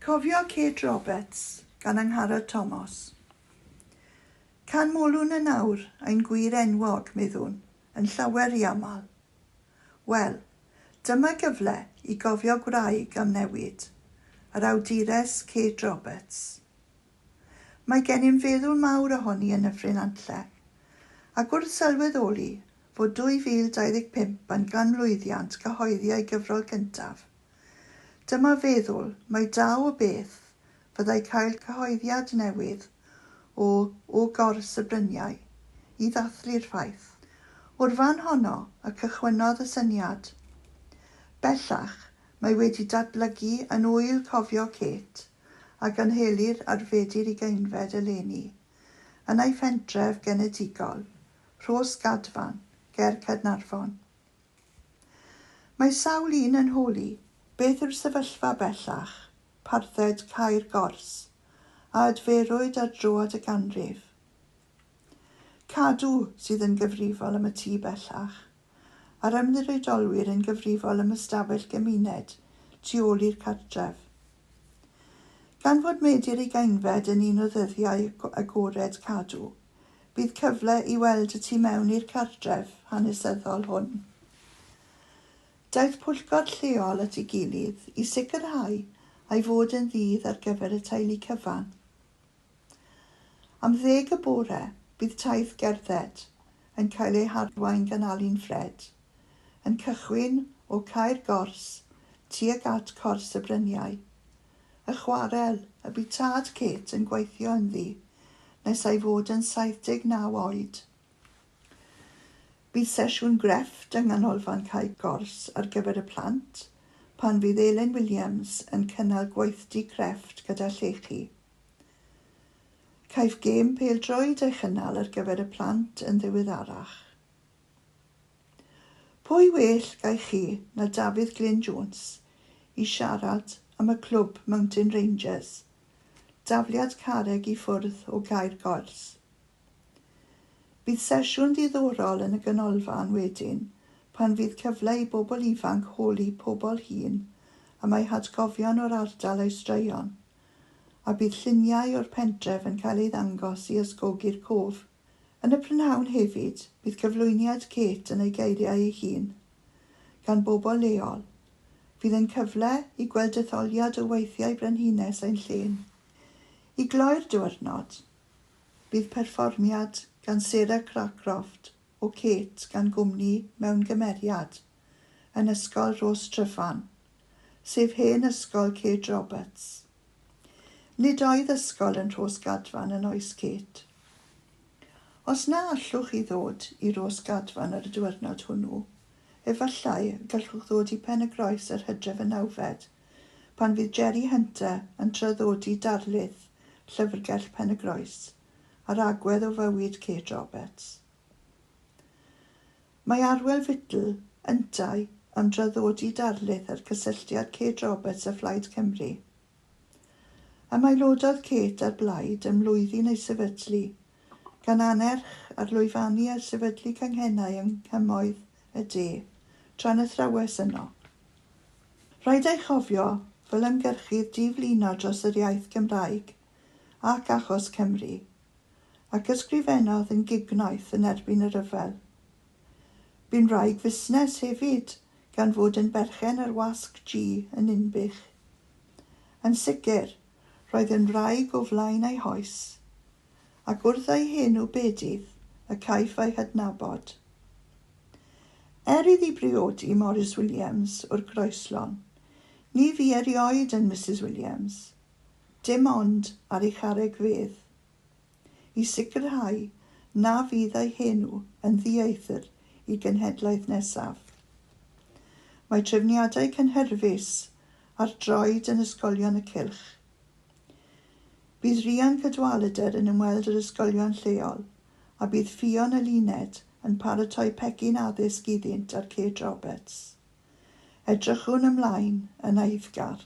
Cofio Kate Roberts gan Angharad Tomos. Can molwn yn awr ein gwir enwog, meddwn, yn llawer i aml. Wel, dyma gyfle i gofio gwraig am newid, yr awdures Kate Roberts. Mae gennym feddwl mawr ohoni yn Nyffryn Nantlle, ac wrth sylweddoli fod 2025 yn ganmlwyddiant cyhoeddi ei gyfrol gyntaf, Dyma feddwl mai da o beth fyddai cael cyhoeddiad newydd o o gors y bryniau i ddathlu'r ffaith. O'r fan honno y cychwynnodd y syniad. Bellach, mae wedi datblygu yn ŵyl cofio Kate a gynhelir ar Fedi'r Ugeinfed eleni, yn ei phentref genedigol, Rhos Gadfan, ger Caernarfon. Mae sawl un yn holi beth yw'r sefyllfa bellach, parthed cau'r gors, a adferwyd ar droad y ganrif. Cadw sydd yn gyfrifol am y tŷ bellach, a'r ymddiriedolwyr yn gyfrifol am ystafell gymuned tu ôl i'r cartref. Gan fod Medi'r Ugainfed yn un o ddyddiau agored Cadw, bydd cyfle i weld y tu mewn i'r cartref hanesyddol hwn. Daeth pwyllgor lleol at ei gilydd i sicrhau ei fod yn ddydd ar gyfer y teulu cyfan. Am ddeg y bore, bydd taith gerdded yn cael ei harwain gan Alun Ffred, yn cychwyn o Cae'r Gors tuag at Cors y Bryniau, y chwarel y bu tad Kate yn gweithio ynddi nes ei fod yn 79 oed. Bydd sesiwn grefft yng Nghanolfan Cae Gors ar gyfer y plant pan fydd Elin Williams yn cynnal gweithdy crefft gyda llechi. Caiff gêm pêl-droed ei chynnal ar gyfer y plant yn ddiweddarach. Pwy well gai chi na Dafydd Glyn Jones i siarad am y clwb Mountain Rangers, dafliad carreg i ffwrdd o Gaer Goers. Bydd sesiwn ddiddorol yn y ganolfan wedyn pan fydd cyfle i bobl ifanc holi pobl hŷn am eu hatgofion o'r ardal a'u straeon, a bydd lluniau o'r pentref yn cael ei ddangos i ysgogi'r cof. Yn y prynhawn hefyd, bydd cyflwyniad Kate yn ei geiriau ei hun, gan bobl leol. Fydd yn cyfle i gweld detholiad o weithiau Brenhines ein llên. I gloi'r diwrnod, bydd perfformiad gan Sarah Cracroft o Kate gan gwmni mewn gymeriad yn Ysgol Rhos Tryfan, sef hen ysgol Kate Roberts. Nid oedd ysgol yn Rhos Gadfan yn oes Kate. Os na allwch chi ddod i Rhos Gadfan ar y diwyrnod hwnnw, efallai y gallwch ddod i Pen-y-groes yr hydref y nawfed, pan fydd Jerry Hunter yn traddodi darlith Llyfrgell Pen-y-groes, a'r agwedd o fywyd Kate Roberts. Mae Arwel Fittle, yntau, yn draddodi darlith ar gysylltiad Kate Roberts â Phlaid Cymru. Ymaelododd Kate â'r Blaid ym mlwyddyn ei sefydlu, gan annerch ar lwyfannu a sefydlu canghennau yng Nghymoedd y De, tra'n athrawes yno. Rhaid ei chofio, fel ymgyrchydd di-flino dros yr iaith Gymraeg, ac achos Cymru, ac ysgrifennodd yn gignoeth yn erbyn y rhyfel. Bu'n wraig fusnes hefyd gan fod yn berchen ar Wasg G yn Ninbych. Yn sicr, roedd yn wraig o flaen ei hoes, ac wrth ei hen ubedydd y caiff ei hadnabod. Er iddi briodi Morris Williams o'r Groeslon, ni fu erioed yn Misus Williams. dim ond ar ei charreg fedd, i sicrhau na fydd ei henw yn ddieithr i genhedlaeth nesaf. Mae trefniadau cynhyrfus ar droed yn ysgolion y cylch. Bydd Rhian Cadwaladr yn ymweld yr ysgolion lleol a bydd Ffion Eluned yn paratoi pecyn addysg iddynt ar Kate Roberts. Edrychwn ymlaen yn eiddgar.